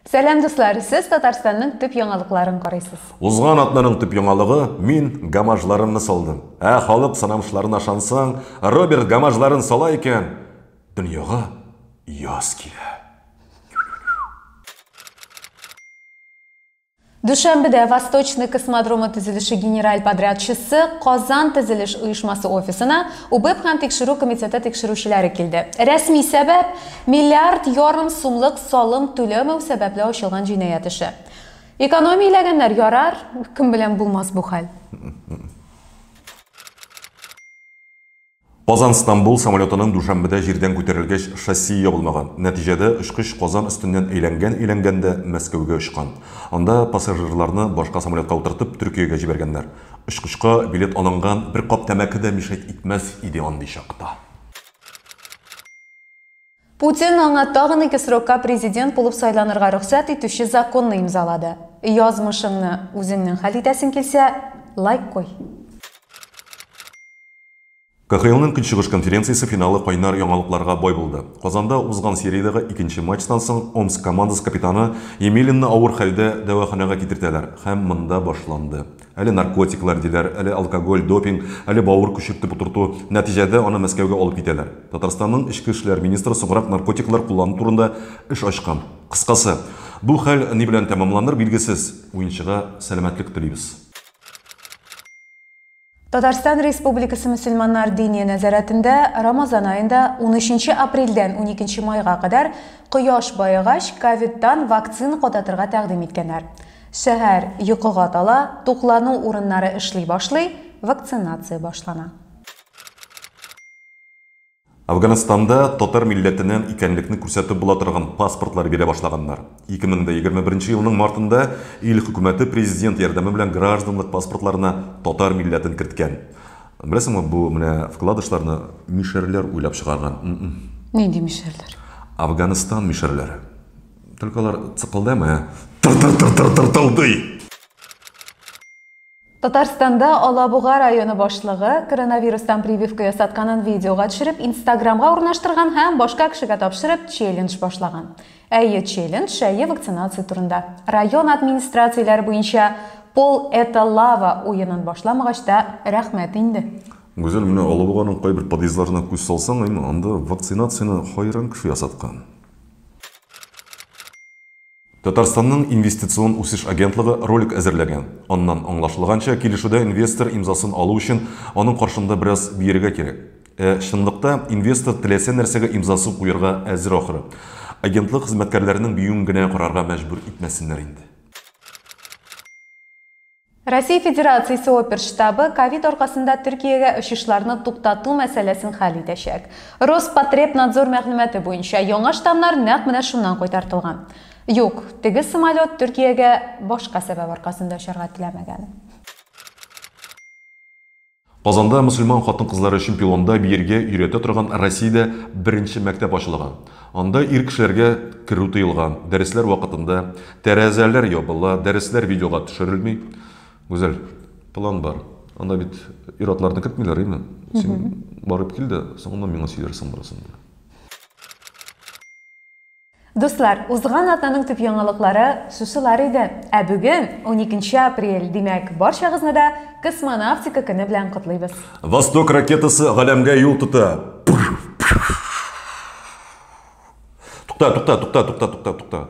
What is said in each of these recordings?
Сәлам дуслар, сез Татарстанның төп яңалыкларын карыйсыз. Узган атнаның төп яңалыгы мин гамажларымны салдым. Ә халык санамышларына шансаң, Роберт гамажларын сала икән, дөньяга яз килә. Дүшәмбедә Восточный космодромы төзелеше генераль подрядчысы Казан төзелеш оешмасы офисына УБЭП һәм тикшерү комитеты тикшерүчеләре килде. Рәсми сәбәп, миллиард ярым сумлык салым түләмәү сәбәпле ачылган җинаять эше. Экономияләгәннәр, ярар, кем белән булмас бу хәл. Казан, Стамбул самолетының дүшәмбедә җирдән күтәрелгәч шасси ябылмаган, нәтиҗәдә очкыч Казан өстеннән әйләнгән-әйләнгән дә Мәскәүгә очкан. Анда пассажирларны башка самолетка утыртып Төркиягә җибәргәннәр. Очкычка билет алынган, бер кап тәмәке дә мишәйт итмәс иде андый чакта. Путин аңа тагын ике срокка президент булып сайланырга рөхсәт итүче законны имзалады. Язмышыңны үзеңнең хәл итәсең килсә, лайк куй. КХЛның Көнчыгыш конференциясе финалы кайнар яңалыкларга бай булды. Казанда узган сериядәге икенче матчтан соң Омск командасы капитаны Емелинны авыр хәлдә дәваханәгә китертәләр һәм монда башланды. Әле наркотиклар диләр, әле алкоголь, допинг, әле бавыр күчертеп утырту. Нәтиҗәдә, аны Мәскәүгә алып китәләр. Татарстанның эчке эшләр министры соңрак наркотиклар куллану турында эш ачкан. Кыскасы, бу хәл ни белән тәмамланыр, билгесез. Уенчыга сәламәтлек телибез. Татарстан Республикасы мөселманнар диния нәзарәтендә Рамазан аенда унөченче апрельдән уникенче майга кадәр кояш баегач, ковидтан вакцина кадатырга тәкъдим иткәннәр. Шәһәр йокыга тала, туклану урыннары эшли башлый, вакцинация башлана. Әфганстанда татар милләтеннән икәнлекне күрсәтеп була торган паспортлар бирә башлаганнар. 2021 елның мартында ил хөкүмәте президент ярдәме белән гражданлык паспортларына татар милләтен керткән. Беләсеңме, бу менә вкладышларны мишәрләр уйлап чыгарган. Нинди мишәрләр? Әфганстан мишәрләре. Только алар цыкылдамый, ә тыр-тыр-тыр-тыр-тыртылдый. Татарстанда Алабуга районы башлыгы коронавирустан прививка ясатканын видеога төшереп, Инстаграмга урнаштырган һәм башка кешегә тапшырып челлендж башлаган. Әйе, челлендж әйе вакцинация турында. Район администрацияләре буенча Пол это лава уенын башламагач та рәхмәт инде. Гүзәл, менә Алабуганың кайбер подъездларына күз салсаң, анда вакцинацияне хайран кеше ясаткан. Татарстанның инвестицион үсеш агентлыгы ролик әзерләгән. Аннан аңлашылганча, килешүдә инвестор имзасын алу өчен аның каршында бераз биергә кирәк. Ә чынлыкта инвестор теләсә нәрсәгә имзасын куярга әзер ахры. Агентлык хезмәткәрләренең биюен генә карарга мәҗбүр итмәсеннәр инде. Россия Федерациясе опер штабы ковид аркасында Төркиягә очышларны туктату мәсьәләсен хәл итәчәк. Роспотребнадзор мәгълүматы буенча, яңа штамнар нәкъ менә шуннан кайтартылган. Юк, теге самолет Төркиягә башка сәбәп аркасында очарга теләмәгән. Казанда мөселман хатын-кызлары өчен пилонда биергә өйрәтә торган Россиядә беренче мәктәп ачылган. Анда ир кешеләргә керү тыелган, дәресләр вакытында тәрәзәләр ябыла, дәресләр видеога төшерелми. Гүзәл, план бар. Анда бит ир-атларны кертмиләр, әйме? Син барып кил дә, соңыннан миңа сөйләрсең барысын да. Дуслар, узган атнаның төп яңалыклары шушылар иде. Ә бүген, уникенче апрель, димәк, барчагызны да Космонавтика көне белән котлыйбыз. Восток ракетасы галәмгә юл тота. Тукта, тукта, тукта, тукта, тукта, тукта.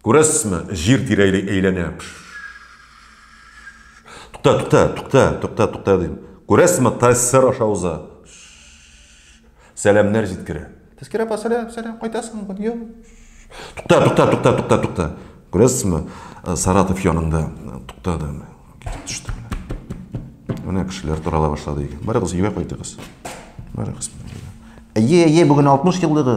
Күрәсезме, җир тирәли әйләнә. Тукта, тукта, тукта, тукта, тукта, дим. Күрәсезме, ТССР аша уза. Сәламнәр җиткерә. Тәскирә апа, сәлам, сәлам, кайтасыңмы бүген? Юк. Тукта, тукта, тукта, тукта, тукта. Күрәсезме, э, Саратов янында э, туктады. Китеп төште. Менә кешеләр тарала башлады икән. Барыгыз, өйгә кайтыгыз. Барыгыз. Әйе, әйе, бүген 60 еллыгы.